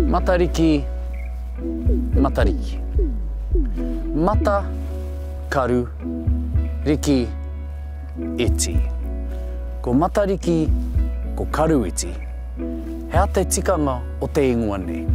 Matariki, Matariki. Mata, karu, riki, iti. Ko Matariki, ko Karu iti. He aha te tikanga o te ingoa nei?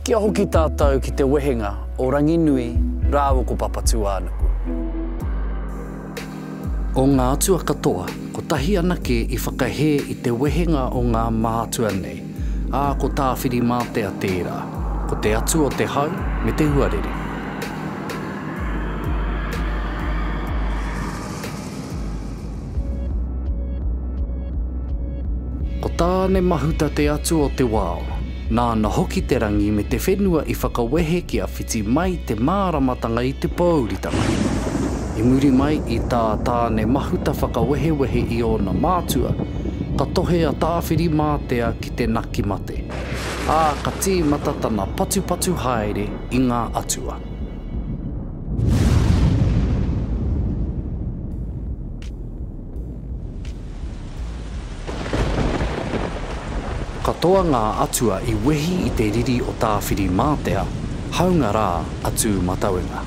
Kia hoki tātou ki te wehenga o Ranginui rāua ko Papatūānuku. O ngā atua katoa, kotahi anake i whakahē i te wehenga o ngā mātua nei. Ā, ko Tāwhirimātea tērā. Ko te atu o te hau me te huarere. Ko Tāne Mahuta te atu o te wao. Nāna hoki te rangi me te whenua i whakawehe kia whiti mai te māramatanga i te pōuritanga. I muri mai i tā Tāne Mahuta whakawehewehe i ōna mātua, Ka tohe a Tāwhiri-mātea ki te naki mate, ā, ka tīmata tana patupatu haere i ngā atua. Katoa ngā atua i wehi i te riri o Tāwhiri-mātea, hāunga rā a Tūmatauenga.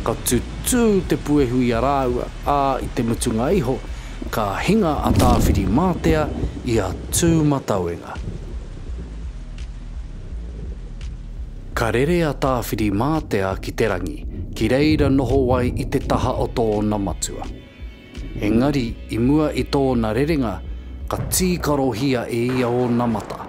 Ka tutū te puehu i a rāua, ā, i te mutunga iho, Ka hinga a Tāwhiri-mātea i a Tūmatauenga. Ka rere a Tāwhiri-mātea ki te rangi, ki reira noho ai i te taha o tōna matua. Engari i mua i tōna rerenga, ka tīkarohia e ia ōna mata,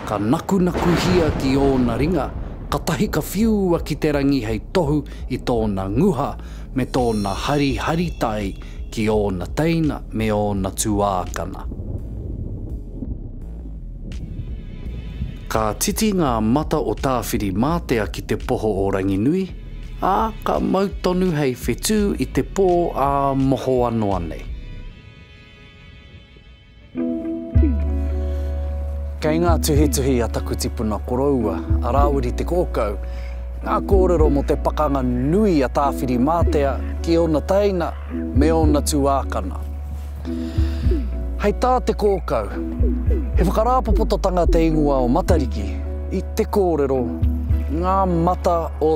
Ka nakunakuhia ki ōna ringa, katahi ka whiua ki te rangi hei tohu i tōna nguha me tōna hariharitai ki ōna teina me ōna tuākana. Ka titi ngā mata o Tāwhirimātea ki te poho o Ranginui, ā, ka mau tonu hei whetū i te pō ā mohoa noa nei. Kei ngā tuhituhi a taku tipuna koroua, a Rāwiri Te Kōkau, ngā kōrero mō te pakanga nui a Tāwhirimātea ki ōna teina me ōna tuākana. Hei tā Te Kōkau, he whakarāpopototanga te ingoa o Matariki i te kōrero, ngā mata o